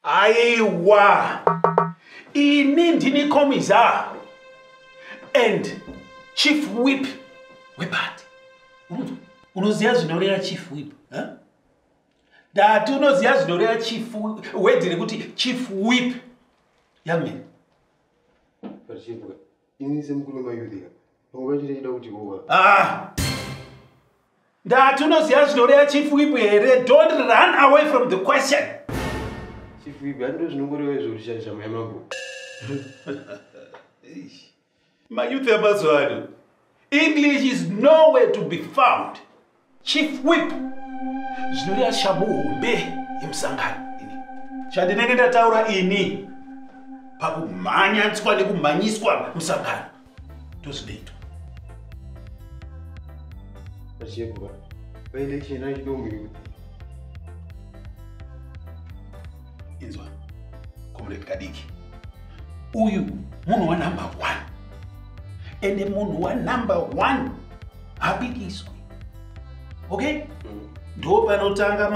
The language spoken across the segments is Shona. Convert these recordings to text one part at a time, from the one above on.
aiwa ini ndini komiza and chief wip wepati unoziva zvinoreva chief wip dati unoziva zvinoreva chief wedhi rekuti chief wip young man Pachibwa, ini semukuru mayudhika, pamwe pachiri chida kuti kuwa. Ah! Ndati unoziva zvinore ya Chief Whip here? Don't run away from the question. Chief Whip, handiro zvinongoreva izvo kuti shanje shama yamambo. Mayuthi yamazuva ano, English is nowhere to be found. chief whip zvinoreva shamhu hombe yemusangano ini chandinenge ndataura ini pakumhanyaniswa nekumhanyiswa musangano ndozvinoitwa achebwa paine chena chidomiri kuti inzwa comrade kadiki uyu munhu wanumber one ende munhu wanumber one habikiswe okay mm. ndo panotanga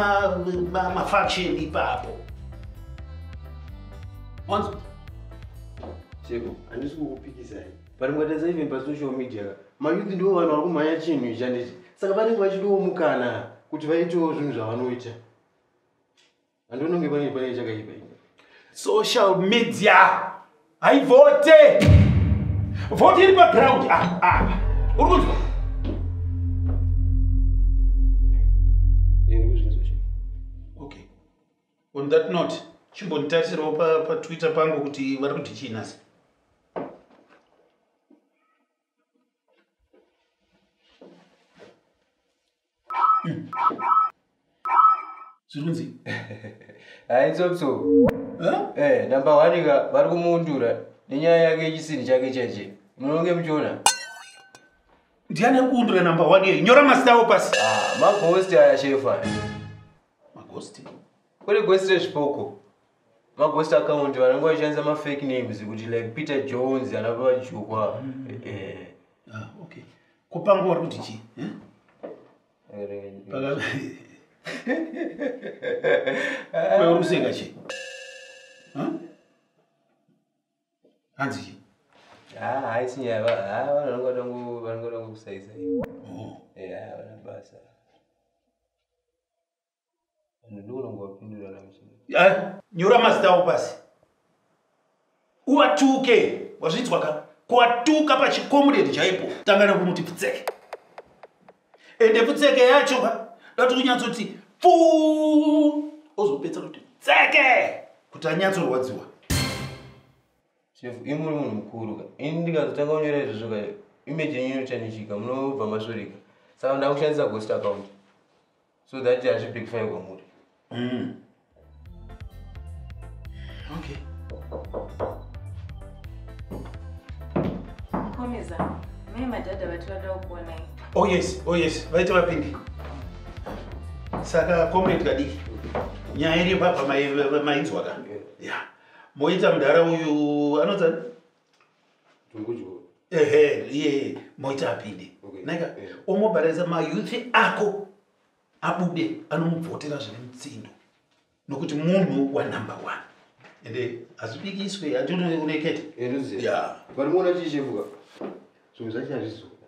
mafaction ma, ma ipapo wanzwa cheko handisi kukupikisai but mukatadza even pasocial media mayouth ndivo vanhu vari kumhanya chinhu ichi handiti saka vanenge vachidiwo mukana kuti vaitewo zvinhu zvavanoita andononge pane pane chakaipa ini social media haivote vote iri paground apa ah, ah. uri kunzwa okay on that note chimbonditarisirawo patwitter pangu kuti vari kuti chii nhasi zvirunzi haitsopso eh, number one ka vari kumuundura nenyaya yake yechisinhi chake chaiche munonge muchiona ndiani ari kuundura number one yei nyora mazita avo pasi ah, magosti aya shefa magosti kune gosti rezvipoko maghost account vanenge vachishandisa mafake names kuti like peter jones ana pavajukwa mm. eh. ah, okay kopanga wari kuti chii eh? uri kuseka chii hanzi chii ah, haisi nyaya ah, vanongoda ngoda ngokusaiza oh. eh, basa nyora mazita avo pasi uwatuke wazvinzwa ka kwatuka pachikomuredi chaipo tanga nekumuti pfutseke ende pfutseke yacho ka dati kunyatsoti pfuu ozopedza kuti tseke kuti anyatsorwadziwa chef imuri munhu mukuru ka ini ndikazotanga kunyora izvozvo ka image yenyu inochanishika munobva masvorika saka ndakushandisa ghost account so that hazvibackfire kwamuri mm. okay mukomeza mai madhadha vati vada kukuonai oh yes oh yes vaita vapindi saka comrade kadiki nyaya iri papa mainzwa ka ya moita mudhara uyu anotsa ehe iye moita apinde naka omobaranisa mayouth ako abude anomubvotera zvine mutsindo nokuti munhu wanumber one ende hazvibikiswe hatinoreketa ya varimuona chichevuka zvimwe zvacho hazvizoda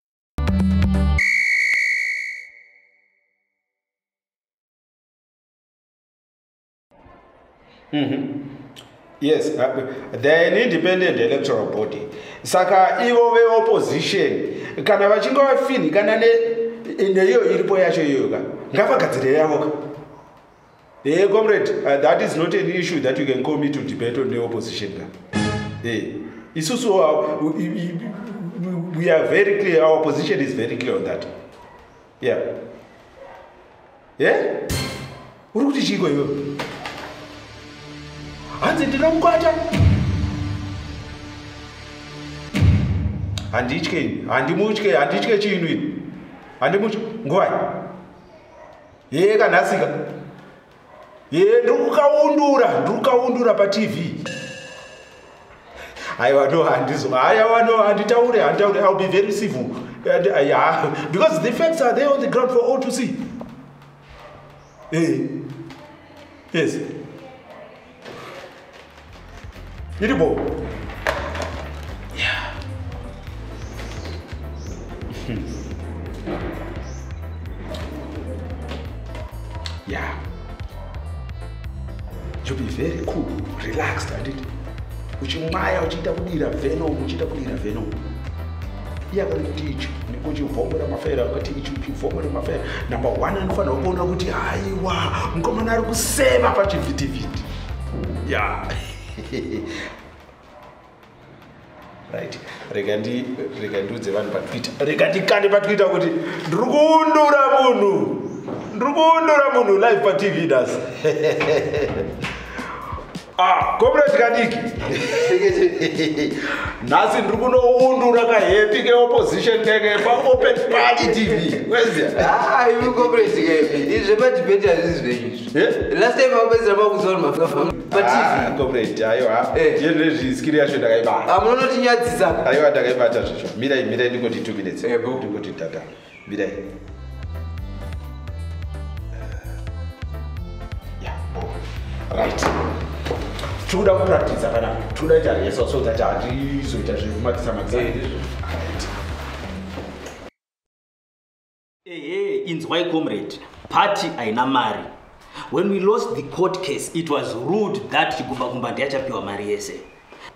Mm -hmm. Yes, uh, they're an independent electoral body. Saka ivo veopposition kana vachinge vafinhikana neiyo iripo yacho iyoyoka ngavagadzire yavoka Hey, eh, comrade, uh, that is not an issue that you can call me to debate on the opposition. Hey, eh, it's also, uh, we, we are very clear, our position is very clear on that. Yeah. Yeah? Uri kuti chiko iwe? Hanzi ndinomukwata. Handitye, handimutye, handitye chinhu. Handimutye, ngwai. hee kanhasika hee ndiri kukaundura ndiri kukaundura patv aiwa no handizo haiwa no handitaure handitaure iwill be very civil yeah. because the facts are there on the ground for all to see hey. Eh, yes Iri bo. Yeah. yeah. You be very cool, relaxed, and it. Uchimaya, uchita kudira venom, uchita kudira venom. iye akati kuti ichu nekuchivhomora mafaira akati ichu chivhomora mafaira namba one anofanira kuona kuti haiwa mukomana ari kuseva pachivhitivhiti ya right rega ndi rega ndiudze vanhu patwitter rega ndikande patwitter kuti ndiri kuundura munhu ndiri kuundura munhu live patv das Ah, comrade kadiki nhasi ndiri kunoundura kahepi keopposition keke paopen party tv kweziyaimukomradiizvemadibeti ah, hazvizi zvenyizvo eh? last time aupedzera makuzoaapatv ah, aiwa eh. yezvezviskiri yacho ndakaibata amunonotinyadzisa aiwa ndakaibata zvacho mirai mirai ndingoti two minutes eh, ndingoti dada Mirai. Yeah, oh, right. Tinoda kupractice kana tinoda ita rehearsal so that handizoita zvekumatisa matisa. Eh, Ehe, eh, eh, inzwai comrade. Party haina mari. When we lost the court case, it was rude that Chigumba Gumba ndiye achapiwa mari yese.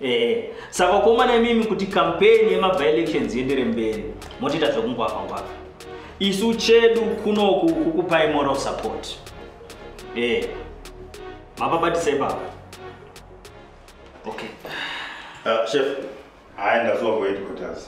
Eh, saka vakomana imimi kuti kampeni yemabylections yendere mberi motiita zvekungwaka ngwaka isu chedu kunoku kukupai moral support eh, mapabatisa ipapa okay uh, chef hayi ndazovoid kutazi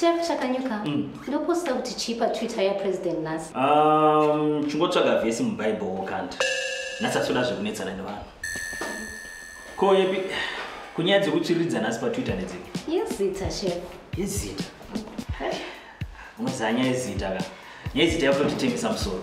Chef Chakanyuka, mm. ndoposta kuti chii paTwitter yaPresident nhasi? Um, chingotsvaga vhesi muBible wokanda. Nhasi asoda zvekunetsana nevanhu. Ko yepi kunyaya dzekutsviriridza nhasi paTwitter nedzipi? Yezita chef. Yezita. Unozanya yezita ka. Yezita yakutotitengesa musoro.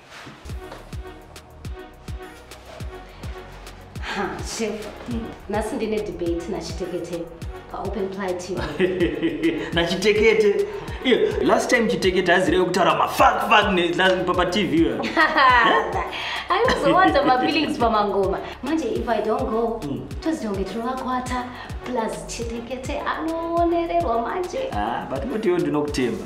chef nhasi ndine debate nachitekete paopen ply tv nachitekete last time chitekete azirewe kutaura mafakfakpatv aizowanza mafeelings pamangoma manje if i don't go hmm. tozitonge tinovakwata plus chitekete anowonererwa manje ah, but motiwo ndinokutemba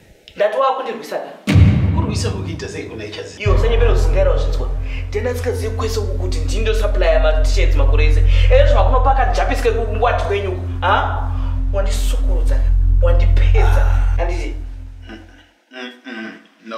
ndati wakundirwisa ka kurwisa kukuita sei kuna ichaz iwo sanyepera usingaira wazvinzwa tena sikazivi kwese uku kuti ndini ndosuplya matisheds makore ese ere zvakunopaka japiske wati kwenyu uku a wandisukurudza wandipedza anditi mm, mm, mm, no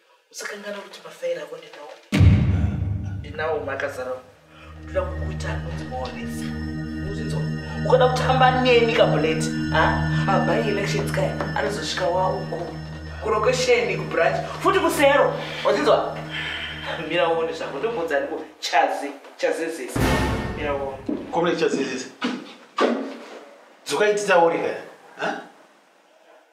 Usakanganwa kuti mafairi ako ndinawo. Ndinawo makazara. Ndoda kukuita anonzi maonesa. Uzinzo. Ukada kutamba neni kabuleti. Ha? Aba elections kai anozosvika wawo uko. Kurokosheni kubranch. Futi kusero. Uzinzo. Mira uone zvako ndombunza ndiko chazi chazezesa. Mira uone. Komle chazezesa. Dzuka ititaurika. Ha?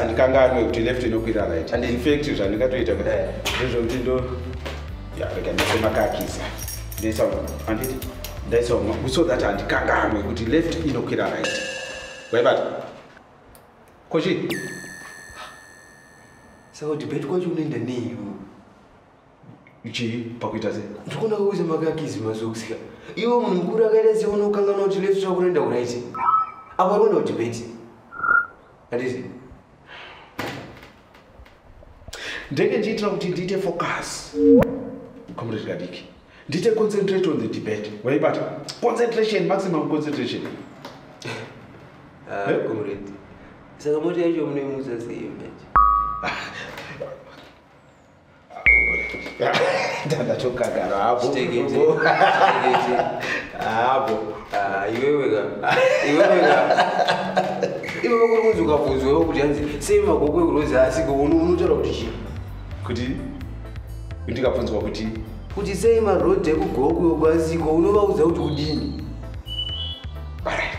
andikanganwe kuti left inokwira right and infact zvandingatoita eh. ndezvokuti ndo rega ndisemakakisa ndaisa anditi ndaisa so that andikanganwe kuti left inokwira right waibata kochi saka debate kwacho unoenda neiwe chii pakuita se ndikuona kuuza makakizi mazokusika iwe munhu mukuru akaita se unokangana kuti lesu chakunoenda kuraiti apa rikuenda kudebeti anditi ndenge ndiitira kuti ndiite focus comrade kadiki ndiite concentrate on the debate waibata concentration maximum concentration ah, eh? comrade saka moti yacho munoimuza sei manje ndatokagara hapo hapo ah, iwewe ka iwewe ka iwewe kuri kunzi ukabvunzwewo kuti hanzi sei magogo ekurozi asiko unotaura kuti chii kuti ndikabvunzwa kuti kuti sei marodhi ekugogo asiko unovaudza kuti kudini alright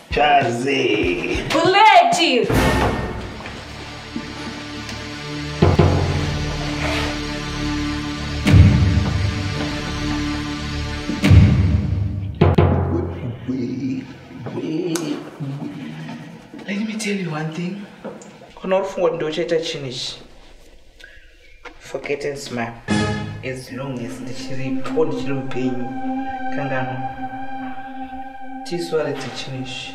Chazi. Buleti. Let me tell you one thing. Kunorufungo ndochaita chini ichi. forget and smile as long as ndichiripo ndichiri mupenyu kangano tiswaridze chinhu ichi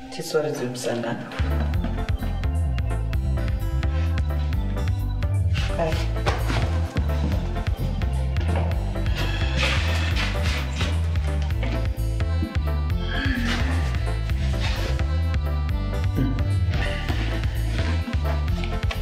tiswaridze musangano